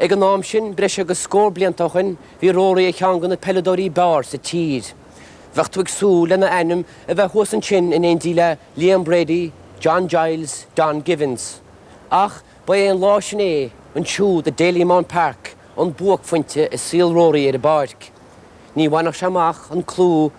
Ag an am sin, breis agus scór blianta ó shoin, bhí Rory ar cheann de na peileadóirí b'fhearr sa tír. Bheadh tú ag súil lena ainm a bheith thuas ansin in éindí le Liam Brady, John Giles, Don Givens. Ach ba é an lá sin é, ansiúd i Dalymount Park, an buaicphointe i saol Rory ar an bpáirc. Ní bhainfeadh sé amach an clú,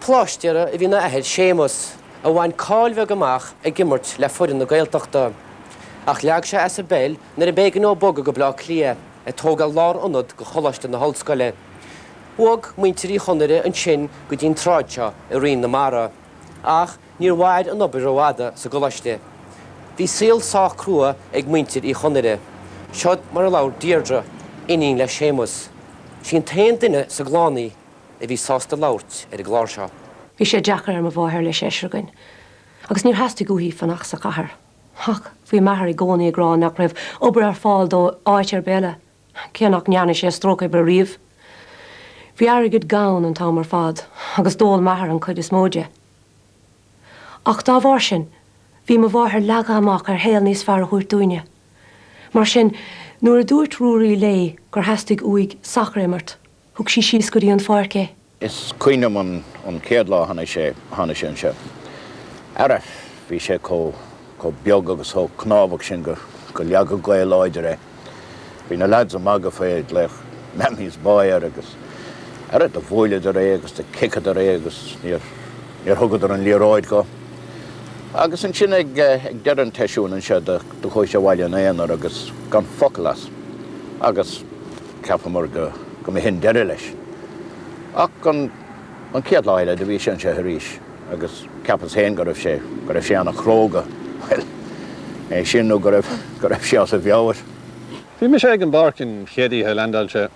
Pláistéara a bhí ina athair Séamus, a bhain cáil mhaith amach ag imirt le foireann na Gaeltachta, ach leag sé as an bpeil nuair ab éigean dó bogadh go Baile Átha Cliath, ag tógáil lár-ionad do Choláiste na hOllscoile. Bhog muintir Uí Chonaire ansin go dtí an tsráid seo i Rinn na Mara, ach níor mhair an obair rófhada sa gColáiste. Bhí saol sách crua ag muintir Uí Chonaire. Siod mar a labhair Deirdre, iníon le Séamus, 'Sí an t-aon duine sa gclann í, a bhí sásta labhairt ar an gclár seo. Bhí sé deacair ar mo mháthair le seisear againn agus níor theastaigh uaithi fanacht sa chathair. Ach bhí m'athair i gcónaí ag rá nach raibh obair ar fáil dó áit ar bith eile, cé nach ndearna sé stróc oibre riamh. Bhí airgead gann an t-am ar fad agus d'ól m'athair an chuid is mó de. Ach dá bharr sin, bhí mo mháthair leagtha amach ar shaol níos fearr a thabhairt dúinne. Mar sin, nuair a dúirt Ruairí léi gur theastaigh uaidh sacar a imirt, Thug sí síos go dtí an pháirc é. Is cuimhin liom an chéad lá a tháinig sé, tháinig sé anseo. Ara, bhí sé chomh, chomh beag agus chomh cnámhach sin go, go leagfadh gaoth láidir é. Bhí na lads ag magadh faoi, ag glaoch Mammy's Boy air agus, ara, do bhuaileadar é agus do chiceadar é agus níor, níor thugadar an liathróid dhó. Agus ansin ag, ag deireadh an tseisiúin anseo do, do chuaigh sé abhaile ina aonar agus gan focal as. Agus. Cheapamar go mba shin deireadh leis. Ach an chéad lá eile do bhí sé anseo arís agus cheapas féin go raibh sé, go raibh sé ana chróga, bhuel, é sin nó go raibh, go raibh sé as a mheabhair. Bhí mise ag an bpáirc an chéad oíche a leaindeáil sé.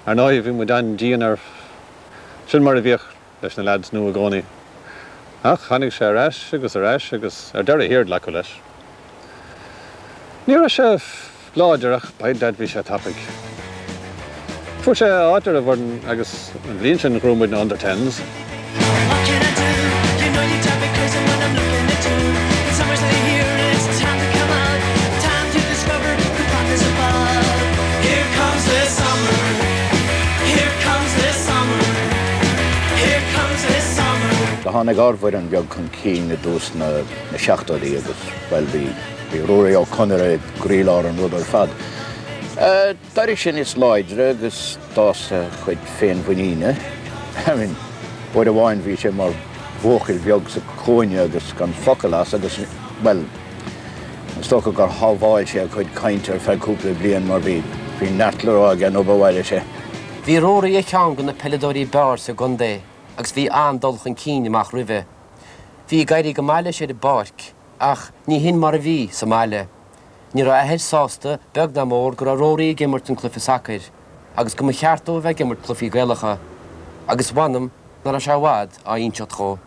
Ar ndóighe bhí muid an-dian air, sin mar a bhíodh. leis na leaids nua i gcónaí. Ach tháinig sé ar ais agus ar ais agus ar deireadh thiar glacadh leis. Ní raibh sé láidir ach by dad bhí sé tapaidh. Fuair sé áit ar an bhfoireann agus an bhliain sin ghnóthaigh muid na Under Tens. Do tháinig ár bhfoireann bheag chun cinn i dtús na seachtóidí agus, bhuel, bhí Ruairí Ó Conaire i gcroílár an rud ar fad. D'éirigh sé níos láidre agus d'fhás a chuid féinmhuiníne. I mean, uair amháin bhí sé mar bhuachaill bheag sa chúinne agus gan focal as agus, bhuel, is dócha gur shábháil sé a chuid cainte ar feadh cúpla bliain mar bhí neart le rá aige nuair ba mhaith leis é. Bhí Rory ar cheann de na peileadóirí b'fhearr sa gcontae agus bhí an-dul chun cinn amach roimhe. Bhí ag éirí go maith leis ar an bpáirc ach ní hin mar a bhí sa mbaile. Ní raibh a athair sásta beag ná mór go raibh Rory ag imirt an cluiche sacair agus go mba cheart dó a bheith ag imirt cluichí Gaelacha, agus mh'anam nach raibh sé i bhfad á inseacht dhó.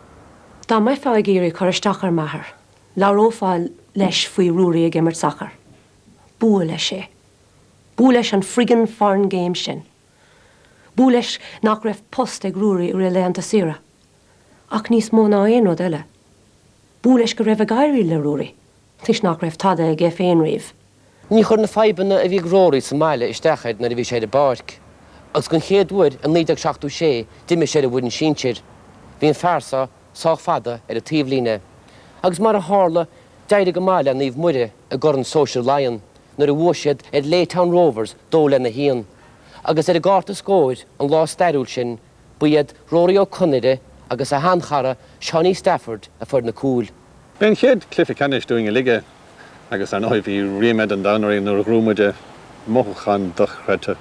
Dá mbeifeá ag iarraidh cur isteach ar m'athair, labhrófá leis faoi Rory ag imirt sacair. B'fhuath leis é. B'fhuath leis an friggin' foreign game sin. B'fhuath leis nach raibh post ag Ruairí i rith a laethanta saoire. Ach níos mó ná aon rud eile, b'fhuath leis go raibh ag éirí le Ruairí toisc nach raibh tada aige féin riamh. Ní chuir na fadhbanna a bhí ag Ruairí sa mbaile isteach air nuair a bhí sé ar an bpáirc. Agus den chéad uair i 1976 d'imir sé ar an bhfoireann sinsir. Bhí an fear seo sách fada ar an taobhlíne. Agus mar a tharla, d'éirigh go maith le Naomh Muire. i gCorn Sóisear Laighean nuair a bhuaigh siad ar Laytown Rovers 2-1, agus ar an gcárta scóir an lá stairiúil sin ba iad Rory Ó Conaire agus a shean-chara Seánie Stafford a fuair na cúil. B'é an chéad cluiche ceannais dúinn uilig é, agus ar ndóigh bhí ríméad an domhain orainn nuair a ghnóthaigh muid é, mothúchán dochreidte.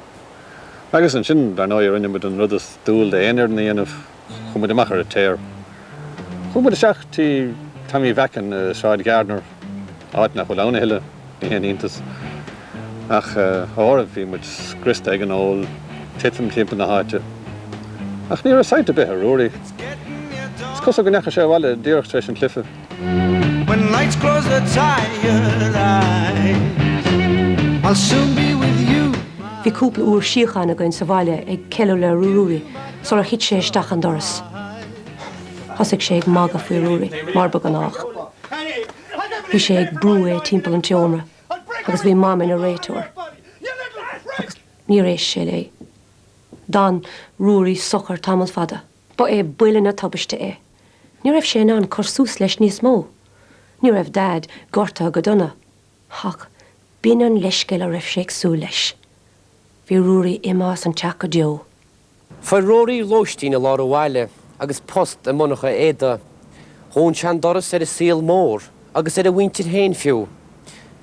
Agus ansin, dar ndóigh, rinne muid an rud is dual d'aon fhoireann a dhéanamh, Chuaigh muid amach ar an tear. Chuaigh muid isteach tí Tommy Mheacan i Sráid Gardner, áit nach bhfuil ann a thuilleadh, ní haon iontas. Ach ara bhí muid scriosta ag an ól titim timpeall na háite. Ach ní raibh sight ar bith ar Ruairí. Is cosúil go ndeachaigh sé abhaile díreach tar éis an chluife. Bhí cúpla uair síocháin againn sa bhaile ag ceiliúradh le Ruairí sular thit sé isteach an doras. Thosaigh sé ag magadh faoi Ruairí, mar ba ghnách. Bhí sé ag brú é timpeall an tseomra agus bhí Mam ina réiteoir, agus níor éist sé léi. D'fhan Ruairí socair tamall fada. Ba é buille na tubaiste é. Ní raibh sé in ann cur suas leis níos mó. Ní raibh Daid gortaithe go dona, ach b'in an leithscéal a raibh sé ag súil leis. Bhí Ruairí imithe as an teach go deo. Fuair Ruairí lóistín i lár an bhaile agus post i monarcha éadaí. Dhún sé an doras ar an saol mór, agus ar a mhuintir féin fiú.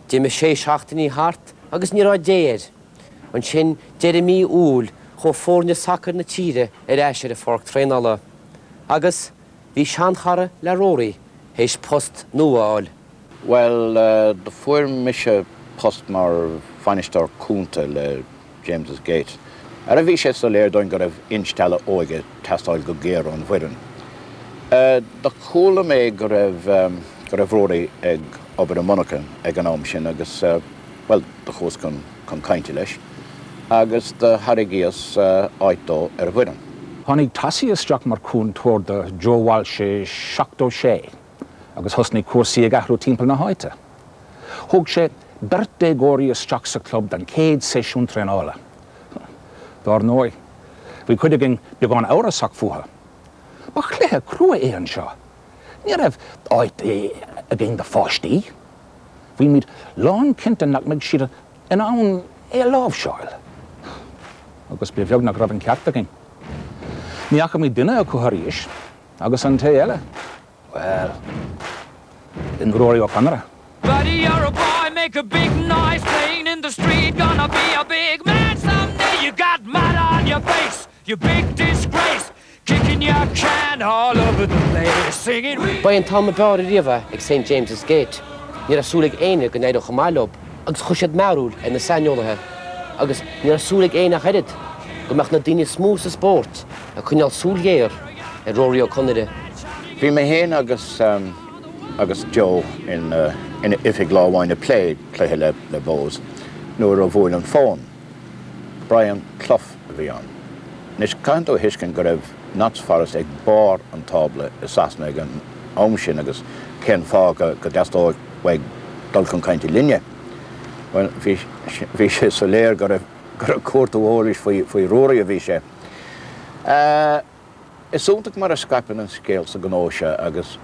D'imigh sé seachtainí thart agus ní raibh dé air. Ansin, deireadh mí Iúil, chuaigh foirne sacair na tíre ar ais ar an pháirc traenála. Agus, bhí seanchara le Rory théis post nua a fháil. Bhuel, do fuair mise post mar bhainisteoir cúnta le James's Gate, ara bhí sé soiléir dúinn go raibh instealladh óige ag teastáil go géar ón bhfoireann. Do chuala mé go raibh, go raibh Rory ag obair i monarcha ag an am sin agus, Bhuel, do chuas chun cainte leis agus do thairgíos áit dó ar an bhfoireann. Tháinig Tossie isteach mar chúntóir do Joe Walsh i seachtó sé agus thosnaigh cúrsaí ag athrú timpeall na háite. Thóg sé beirt déagóirí isteach sa chlub don chéad seisiún traenála. Dár ndóigh, bhí cuid againn beagán amhrasach fúthu. Ba chluife crua é anseo! Ní raibh áit againn do pháistí. Bhí muid lánchinnte nach mbeadh siad in ann é a láimhseáil. Agus ba bheag nach raibh an ceart againn. Ní fhaca muid duine acu arís, agus an té eile, bhuel, b'in Rory Ó Conaire. Buddy, you're a boy, make a big noise playing in the street Gonna be a big man someday, you got mud on your face! Ba é an t-am ab fhearr riamh é ag St James's Gate, ní raibh súil ag éinne go n-éireodh chomh maith leo agus chuir siad mearbhall ar na saineolaithe agus ní raibh súil ag éinne ach oiread go mbeadh na daoine is mó sa spórt ag coinneáil súil ghéar ar Rory Ó Conaire. Bhí mé héin agus agus Joe in oifig lá amháin ag plé cluiche le Bohs nuair a bhuail an fón. Brian Clough a bhí ann. Anois, caithfidh tú a thuiscint go raibh Notts Forest ag barr an tábla i Sasana ag an am sin agus cén fáth go dteastódh uaidh dul chun cainte linne? Bhuel, bhí sé soiléir gur ag cuartú eolais faoi Rory a bhí sé. Is iontach mar a scaipeann an scéal sa ghnó seo agus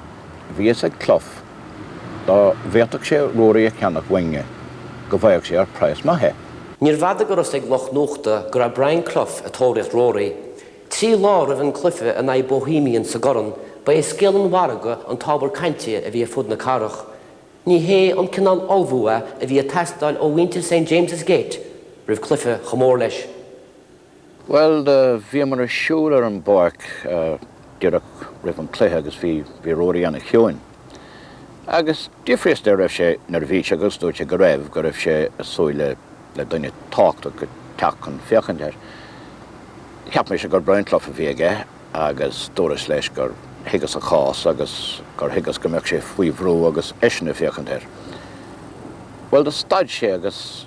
bhí a fhios ag Clough dá bhféadfadh sé Rory a cheannach uainne go bhfaigheadh sé ar praghas maith é. Níorbh fhada go raibh a fhios ag lucht nuachta go raibh Brian Clough ag tóraíocht Rory. Trí lá roimh an gcluife in aghaidh Bohemians sa gCorn ba é scéal an mhargaidh an t-ábhar cainte a bhí ar fud na cathrach. Ní hé an cineál ullmhú a bhí ag teastáil ó mhuintir St James's Gate roimh chluife chomh mór leis. Bhuel, do bhíomar ag siúl ar an bpáirc díreach roimh an gcluiche agus bhí Rory an-chiúin. Agus d'fhiafraíos de an raibh sé neirbhíseach agus dúirt sé go raibh, go raibh sé ag súil le duine tábhachtach ag teacht chun féachaint air. Cheap mise gur Brian Clough a bhí aige agus dúras leis gur thuigeas a chás agus gur thuigeas go mbeadh sé faoi bhrú agus eisean ag féachaint air. Bhuel, do stad sé agus.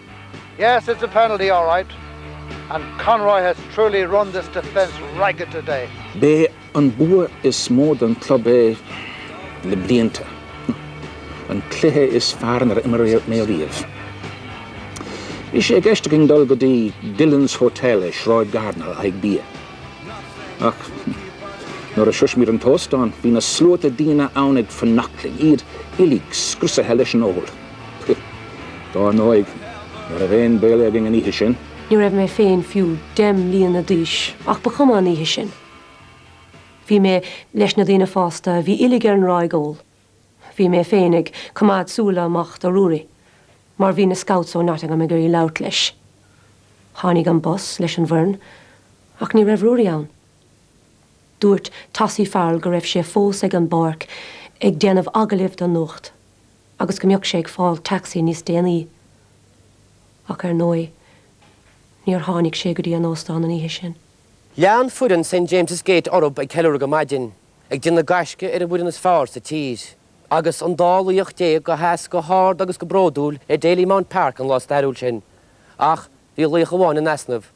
Yes, it's a penalty alright, and Conroy has truly run this defence ragged today. B'é an bua is mó don club é le blianta, an cluiche is fearr inar imir mé riamh. Bhí sé i gceist againn dul go dtí Dillon's Hotel i Sráid Gardiner le haghaidh bia, ach nuair a shrois muid an t-óstán bhí na sluaite daoine ann ag fanacht linn, iad uilig scriosaithe leis an ól. Pfft. Dar ndóigh, ní raibh aon béile againn an oíche sin. Ní raibh mé féin fiú deich mbliana d'aois ach ba chuma an oíche sin. Bhí mé leis na daoine fásta a bhí uilig ar an ráig óil. Bhí mé féin ag coimeád súile amach do Ruairí mar bhí na scouts ó Nottingham ag iarraidh labhairt leis. Tháinig an bus leis an bhfoireann ach ní raibh Ruairí ann. Dúirt Tossie Farrell go raibh sé fós ag an bpáirc ag déanamh agallaimh don nuacht. agus go mbeadh sé ag fáil taxi níos déanaí, ach ar ndóigh níor tháinig sé go dtí an óstán an oíche sin. Lean foireann St James's Gate orthub ag ceiliúradh go maidin, ag déanamh gaisce ar an bhfoireann is fearr sa tír, agus an dá laoch déag a sheas go hard agus go bródúil ar Dalymount Park an lá stairiúil sin, ach bhí laoch amháin in easnamh.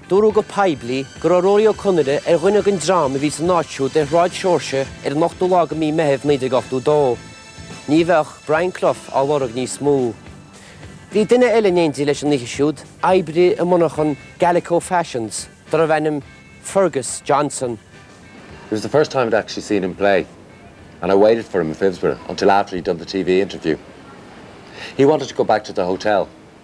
Dúradh go poiblí go raibh Rory Ó Conaire ar dhuine den dream a bhí san áit siúd ar Shráid Seoirse ar an ochtú lá de Mhí Meithimh 1982. Ní bheadh Brian Clough á lorg níos mó. Bhí duine eile in éindí leis an oíche siúd, oibrí i monarchan Gallico Fashions darbh ainm Fergus Johnson. It was the first time I'd actually seen him play and I waited for him in Phibsborough until after he'd done the TV interview. He wanted to go back to the hotel.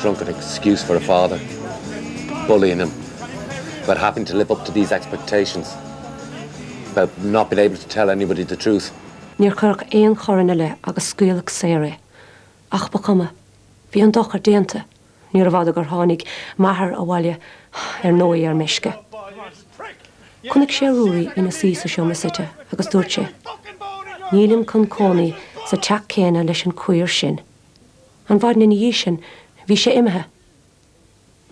drunken excuse for a father, bullying him about having to live up to these expectations, about not being able to tell anybody the truth. Níor cuireadh aon choir ina leith agus scaoileadh saor é. Ach ba chuma. Bhí an dochar déanta. Níorbh fhada gur tháinig m'athair abhaile, ar ndóigh ar meisce. Chonaic sé Ruairí ina suí sa seomra suite agus dúirt sé, Nílim chun cónaí sa teach céanna leis an queer sin. An mhaidin ina dhiaidh sin, bhí sé imithe.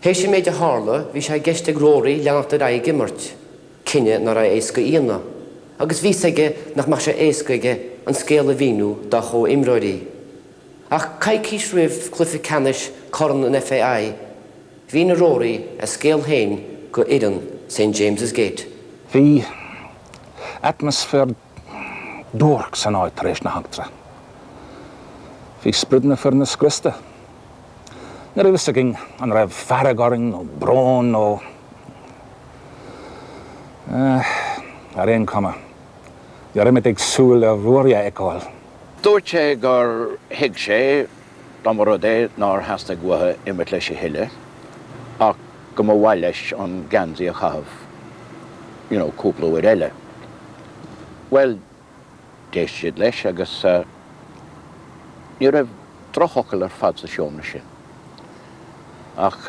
Théis an méid a tharla, bhí sé i gceist ag Rory leanacht ar aghaidh ag imirt, cinneadh nach raibh éasca a dhéanamh, agus bhí 's aige nach mbeadh sé éasca aige an scéal a mhíniú dá chomhimreoirí. Ach coicís roimh chluiche ceannais Corn an FAI, mhínigh Rory a scéal féin do fhoireann St James's Gate. Bhí atmaisféar duairc san áit tar éis na heachtra. Bhí sprid na foirne scriosta. Ní raibh fhios againn an raibh fearg orainn nó brón nó. eh. ar aon cuma, ní raibh muid ag súil le Ruairí a fheiceáil. Dúirt sé gur thuig sé dá mba rud é nár theastaigh uathu imirt leis a thuilleadh ach go mba mhaith leis an geansaí a chaitheamh, you know, cúpla uair eile. Bhuel, d'éist siad leis agus ní raibh drochfhocal ar fad sa seomra sin ach.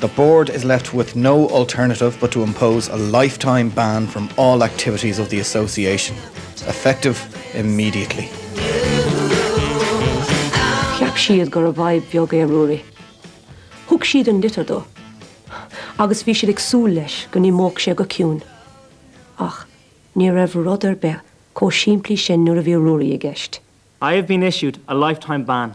The Board is left with no alternative but to impose a lifetime ban from all activities of the Association, effective immediately. Cheap siad gurbh fhadhb bheag é Ruairí. Thug siad an litir dó, agus bhí siad ag súil leis go n-imeodh sé go ciúin. Ach ní raibh rud ar bith chomh simplí sin nuair a bhí Ruairí i gceist. I have been issued a lifetime ban.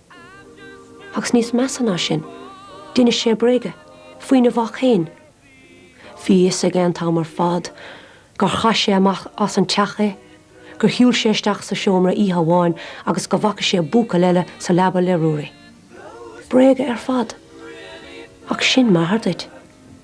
Agus níos measa ná sin, d'inis sé bréaga faoina mhac féin. Bhí a fhios aige an t-am ar fad gur chaith sé amach as an teach é, gur shiúil sé isteach sa seomra oíche amháin agus go bhfaca sé buachaill eile sa leaba le Ruairí. Bréaga ar fad. Ach sin m'athair duit.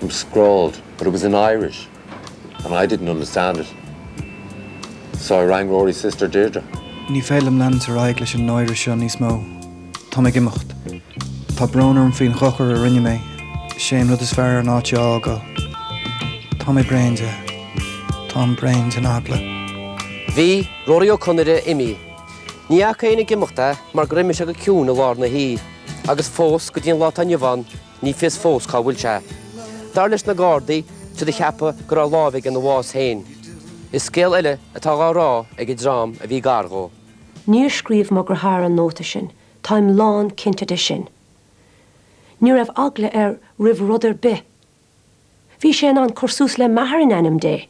It was scrawled, but it was in Irish and I didn't understand it, so I rang Rory's sister Deirdre. Ní féidir liom leanúint ar aghaidh leis an náire seo níos mó. Tá mé ag imeacht. Tá brón orm faoin dhochar a rinne mé. Is é an rud is fearr an áit a fhágáil. Tá mé bréan de. Táim bréan den eagla. Bhí Rory Ó Conaire imithe. Ní fhaca éinne ag imeacht é mar gur imigh sé go ciúin i lár na hoíche. Agus fós, go dtí an lá atá inniu ann, Ní fios fós cá bhfuil sé. Dar leis na Gardaí, tuigeadh, ceapadh go raibh lámh aige ina bhás féin, is scéal eile atá dhá rá ag an dream a bhí gar dhó. Níor scríobh mo dheartháir an nóta sin, táim lán cinnte de sin. Ní raibh eagla air roimh rud ar bith. Bhí sé in ann cur suas le m'athair in ainm Dé.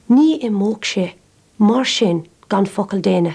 Ní imeodh sé mar sin gan focal d'éinne.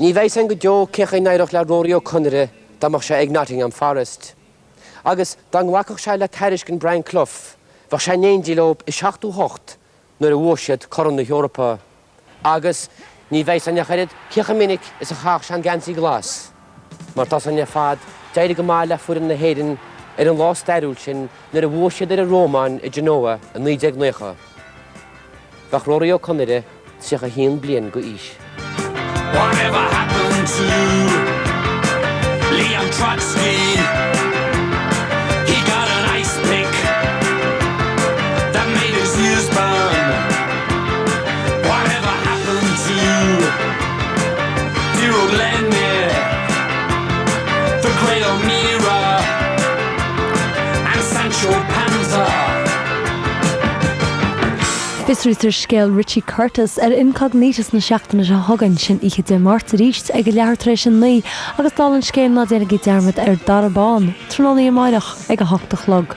Ní bheidh a fhios againn go deo cé chaoi a n-éireodh le Rory Ó Conaire dá mbeadh sé ag Nottingham Forest. Agus dá nglacfadh sé le tairiscint Brian Clough, bheadh sé in éindí leo i seachtó hocht nuair a bhuaigh siad Corn na hEorpa. Agus ní bheidh a fhios againn ach oiread cé chomh minic is a chaithfeadh sé an geansaí glas. Mar tá a fhios againn ar fad, d'éirigh go maith le foireann na hÉireann ar an lá stairiúil sin nuair a bhuaigh siad ar an Rómáin i Genoa i 1990. Bheadh Rory Ó Conaire 31 bliain d'aois. Fiosraítear scéal Richie Curtis ar Incognitus na seachtaine seo chugainn, sin oíche Dé Máirt, aríst ag a leathuair tar éis a naoi agus dála an scéil ná déanaigí dearmad ar Dara Bán, tráthnóna amárach ag a hocht a chlog.